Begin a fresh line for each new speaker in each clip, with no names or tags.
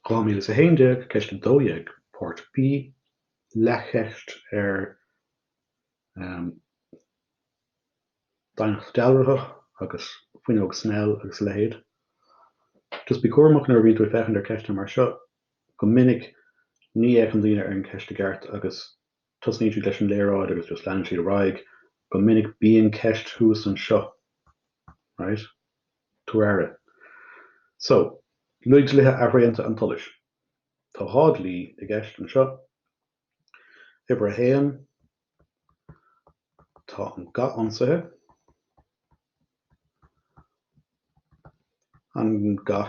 2011, Ceist 12 Páirt B, Leathcheist ar Doimhneacht Dealraitheach agus Fuinneog Snell agus a leithéid. Just bí cúramach nuair a bhíonn tú ag féachaint ar cheisteanna mar seo. Go minic ní fhéachann daoine ar an ceist i gceart agus. Tosnaíonn siad leis an léaráid agus just leanann siad ar aghaidh go minic bíonn ceist thuas anseo right? tabhair aire so luaigh dlíthe athraonta an tsolais tá dhá dlí i gceist anseo uimhir a haon tá an ga ionsaithe an ga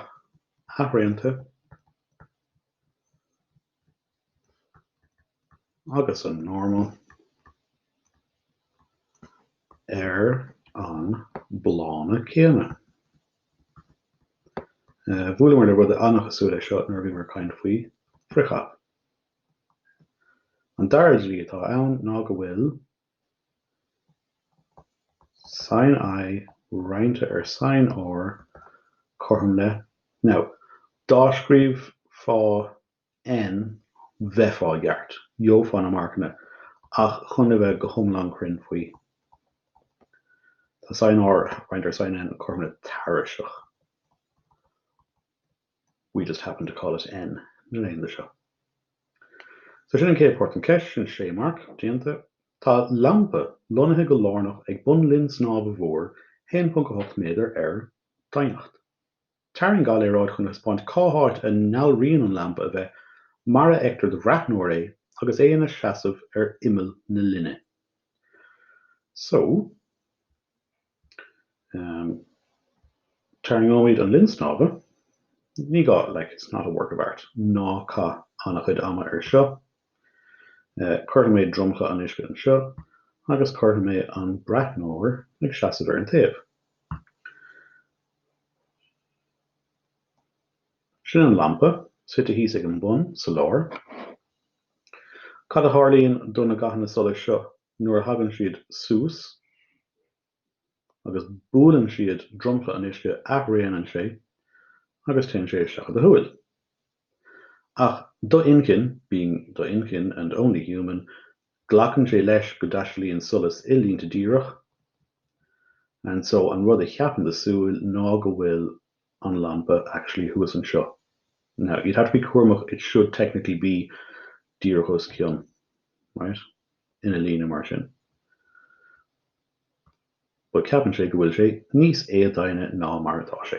athraonta agus an normal ar an bplána céanna. Bhuaileamar le rud an-chosúil leis seo nuair a bhíomar ag caint faoi frithchaith. An dara dlí atá ann ná go bhfuil Sin I, roinnte ar sin R, cothrom le, now. Dá scríobhfá N bheifeá i gceart, gheofá na marcanna, ach chun a bheith go hiomlán cruinn faoi, tá sin R, roinnte ar sin N, cothrom le, tairiseach. We just happen to call it N na laethanta seo. So sin an chéad páirt an ceist, sin sé marc déanta. Tá lampa lonnaithe go lárnach ag bun linn snámha mhór 1.8 méadar ar doimhneacht. Tarraing ga-léaráid chun a thaispeáint cá háit a ndealraíonn an lampa a bheith mar a fheictear do bhreathnóir é agus é ina seasamh ar imeall na linne. So. Um, tarraingeoimid an linn snámha. Ní gá, like, it's not a work of art. Ná caith an-chuid ama air seo. Uh, cuirfidh mé dromchla an uisce anseo agus cuirfidh mé an breathnóir ag seasamh ar an taobh. Sin an lampa, suite thíos ag an bun, sa lár. Cad a tharlaíonn do na gathanna solais seo nuair a thagann siad suas agus buaileann siad dromchla an uisce athraonann sé agus téann sé isteach i do shúil. Ach do inchinn, being do inchinn and only human, glacann sé leis go dtaistealaíonn solas i línte díreach and so an rud a cheapann do súil ná go bhfuil an lampa actually thuas anseo now you'd have to be cúramach it should technically be díreach os cionn right ina líne mar sin but ceapann sé go bhfuil sé níos éadoimhne ná mar atá sé.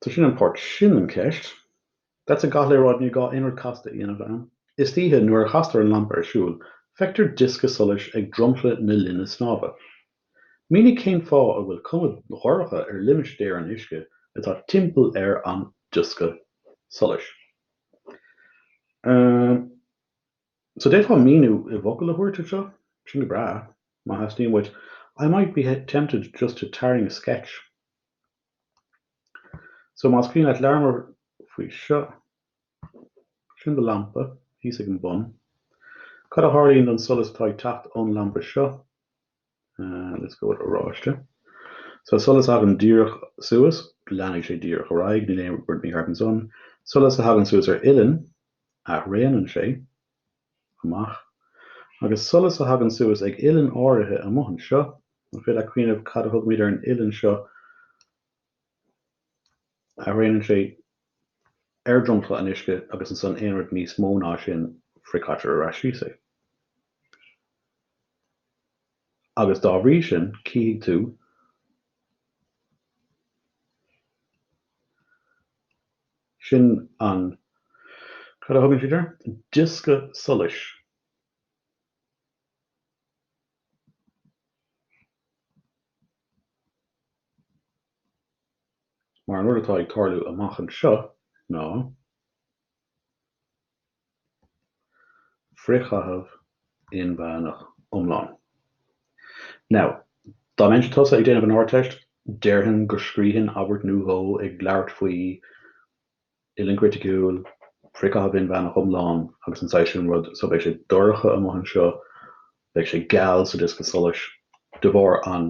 So sin an pháirt sin den cheist. That's a ga-léaráid ní gá aon rud casta a dhéanamh ann. Istoíche nuair a chastar an lampa ar siúl, feictear diosca solais ag dromchla na linne snámha. Mínigh cén fáth a bhfuil cuma dhorcha ar limistéar an uisce atá timpeall ar an diosca solais. Ahem. So d'fhéadfá míniú i bhfocail a thabhairt air seo? Sin go breá, má theastaíonn uait. I might be tempted just to tarraing a sketch. So más cuimhin leat labhramar faoi seo, sin do lampa thíos ag an bun. Cad a tharlaíonn don solas atá ag teacht ón lampa seo? Let's go with oráiste. So solas a thagann díreach suas, leanfaidh sé díreach ar aghaidh, níl aon rud mícheart ansan. Solas a thagann suas ar uillinn, athraonann sé. amach. Agus solas a thagann suas ag uillinn áirithe amuigh anseo, an féidir leat cuimhneamh cad a thugaimid ar an uillinn seo athraonann sé ar dhromchla an uisce agus ansan aon rud níos mó ná sin frithchaitear ar ais síos é. Agus dá bhrí sin cífidh tú Sin an, cad a thugann siad air? diosca solais. Mar an rud atá ag tarlú amach anseo ná. Frithchaitheamh inmheánach iomlán. Now, dá mbeinnse tusa ag déanamh an Ardteist, déarfainn go scríobhfainn abairt nó dhó ag labhairt faoi uillinn chriticiúil, frithchaitheamh inmheánach iomlán agus an saghas sin rud, so beidh sé dorcha amuigh anseo, beidh sé geal sa diosca solais, de bharr an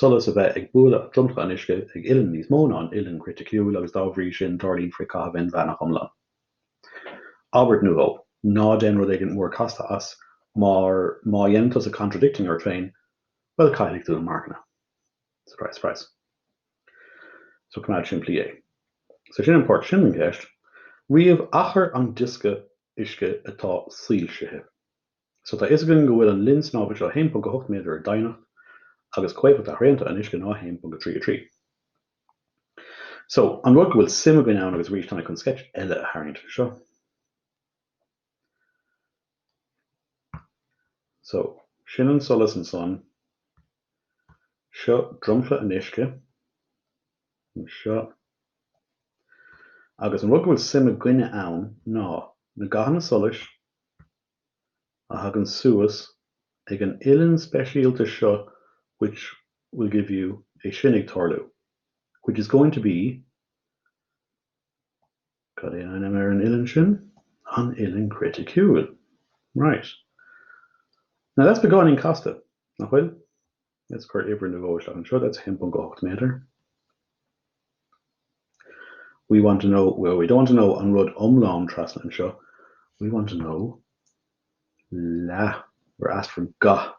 solas a bheith ag bualadh dromchla an uisce ag uillinn níos mó ná an uillinn chriticiúil agus dá bhrí sin tarlaíonn frithchaitheamh inmheánach iomlán. Abairt nó dhó. Ná déan rud éigin mór casta as, mar má dhéanann tú contradicting ort féin, bhuel, caillfidh tú na marcanna. Surprise, surprise. So coimeád simplí é. So sin an pháirt sin den cheist. Ríomh achar an diosca uisce atá soilsithe. So tá fhios againn go bhfuil an linn snámha seo 1.8 méadar ar doimhneacht agus comhéifeacht athraonta an uisce ná 1.33. So an rud go bhfuil suim againn ann agus arís táimid chun sceitse eile a tharraingt anseo. So sin an solas ansan seo dromchla an uisce seo agus an rud go bhfuil suim againne ann ná na gathanna solais a thagann suas ag an uillinn speisialta seo which will give you é sin ag tarlú which is going to be cad é an ainm ar an uillinn sin? an uillinn chriticiúil right now that's beagáinín casta, nach bhfuil? Let's cuir uimhir nó dhó isteach anseo, that's 1.8 méadar. We want to know, well we don't want to know an rud iomlán trasna anseo, we want to know leath, we're asked for gath.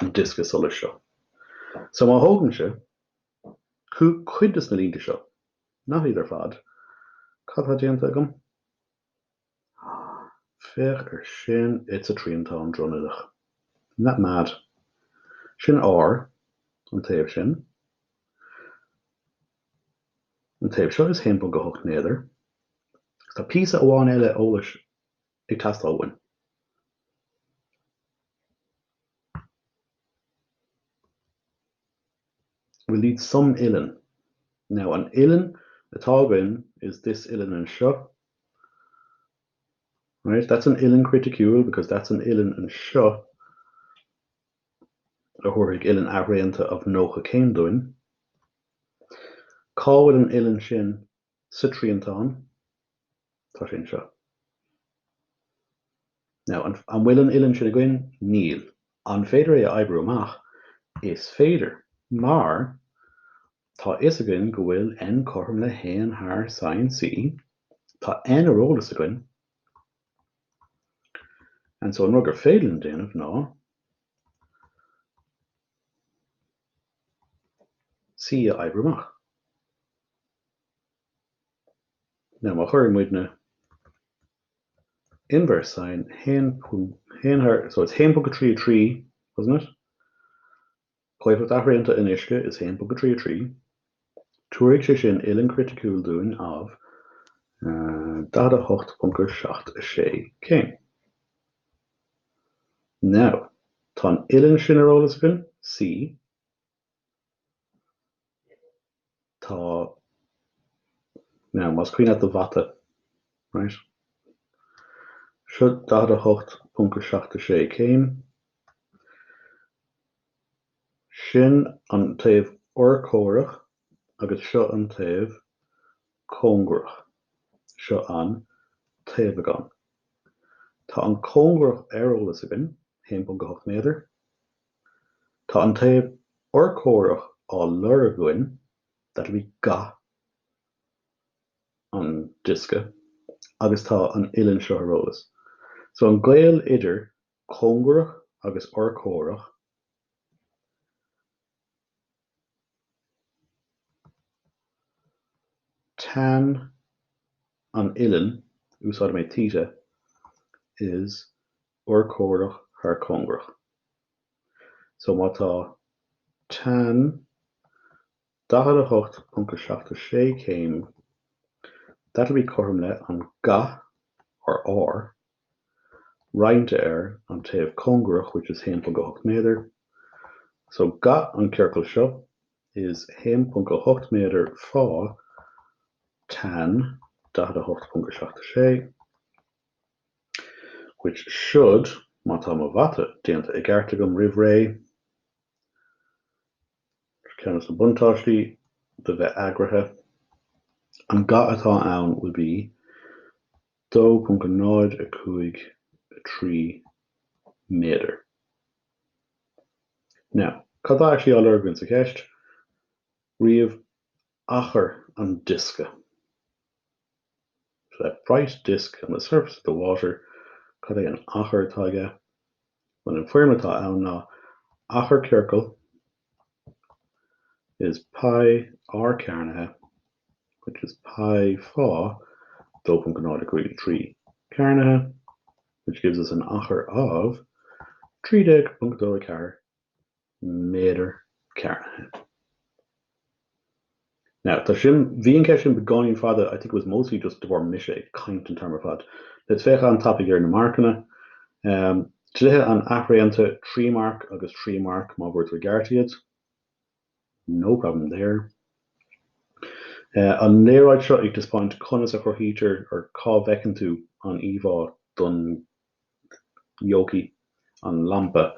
an diosca solais seo. So má thógaimse chu cuid de sna línte seo, not iad ar fad, cad atá déanta agam? Féach ar sin, It's a triantán dronuilleach. Isn't that mad? Sin r, an taobh sin. An taobh seo is 1.8 méadar. Tá píosa amháin eile eolais ag teastáil uainn. We'll need some uillinn. Now an uillinn atá againn is this uillinn anseo, right, that's an uillinn chriticiúil because that's an uillinn anseo a thabharfaidh uillinn athraonta of 90 céim dúinn. Cá bhfuil an uillinn sin sa triantán. Tá sé anseo. Now, an bhfuil an uillinn sin againn? Níl. An féidir é a oibriú amach? Is féidir, mar tá a fhios againn go bhfuil n cothrom le haon thar sin C, tá n ar eolas againn, and so an rud gur féidir linn déanamh ná C a oibriú amach. Now má chuireann muidne inverse sine, 1 thar, so it's 1.33, wasn't it? Comhéifeacht athraonta an uisce is 1.33. Tabharfaidh sé sin uillinn chriticiúil dúinn of uh, 48.76 céim. Now, tá an uillinn sin ar eolas againn, C, Tá Now, más cuimhin leat do mhata, right? Seo 48.76 céim. Sin an taobh urchomhaireach agus seo an taobh cóngarach. Seo an taobhagán. Tá an cóngarach ar eolas againn, 1.8 méadar. Tá an taobh urchomhaireach á lorg againn, that'll be ga an diosca agus tá an uillinn seo ar eolas. So an gaol idir cóngarach agus urchomhaireach, tan an uillinn, úsáid mé theta, is urchomhaireach thar cóngarach. So má tá tan 48.76 céim, that will be cothrom le an ga, or R, roinnte ar an taobh cóngarach, which is 1.8 méadar. So ga an ciorcail seo is 1.8 méadar fá tan 48.76. which should, má tá mo mhata déanta i gceart agam roimh ré, ceann des na buntáistí de bheith eagraithe, an ga atá ann will be 2.053 méadar. Now, cad tá actually á lorg againn sa cheist? Ríomh achar an diosca. So that bright disc on the surface of the water, cad é an achar atá aige? Bhuel, an foirm atá ann ná achar ciorcail is pi r cearnaithe, which is pi fá 2.053 cearnaithe, which gives us an achar of 13.24 méadar cearnaithe. Now, tá sin, bhí an ceist sin beagáinín fada, I think it was mostly just de bharr mise ag caint an t-am ar fad. Let's féach an-tapaidh ar na marcanna. Um, dlíthe an athraonta, trí marc agus trí marc má bhfuair tú i gceart iad. no problem there. An léaráid seo ag taispeáint conas a chruthaítear or cá bhfeiceann tú an íomhá don yokey, an lampa.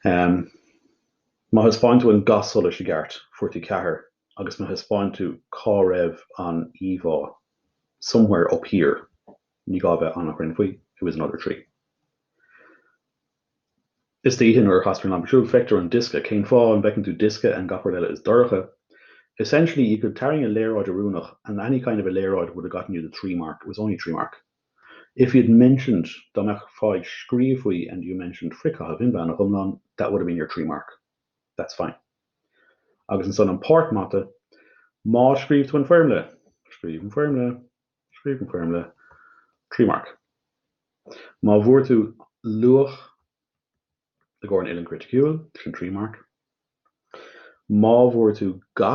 Má thaispeáin tú an ga solais i gceart, fuair tú ceathair agus má thaispeáin tú cá raibh an íomhá, somewhere up here, ní gá a bheith an-chruinn faoi, it was another three. Istoíche nuair a lastar an lampa siúd, feictear an diosca. Cén fáth? An bhfeiceann tú diosca? And gach rud eile is dorcha? Essentially, you could tarraing a léaráid oiriúnach and any kind of a léaráid would have gotten you the three mark. It was only three mark. If you'd mentioned dá mbeifeá ag scríobh faoi and you mentioned frithchaitheamh inmheánach iomlán that would have been your three mark. That's fine. Agus ansan an páirt mata. Má scríobh tú an foirmle. Scríobh an foirmle. Scríobh an foirmle trí mharc má bhfuair tú luach le gcomhair an uillinn chriticiúil, sin an trí mharc má bhfuair tú ga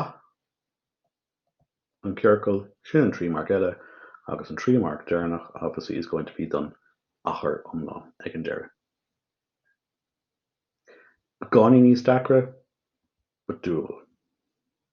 an chiorcail, sin an trí mharc eile, agus an trí mharc deireanach obviously is going to be don achar iomlán ag an deireadh. Beagáinín níos deacra, but doable.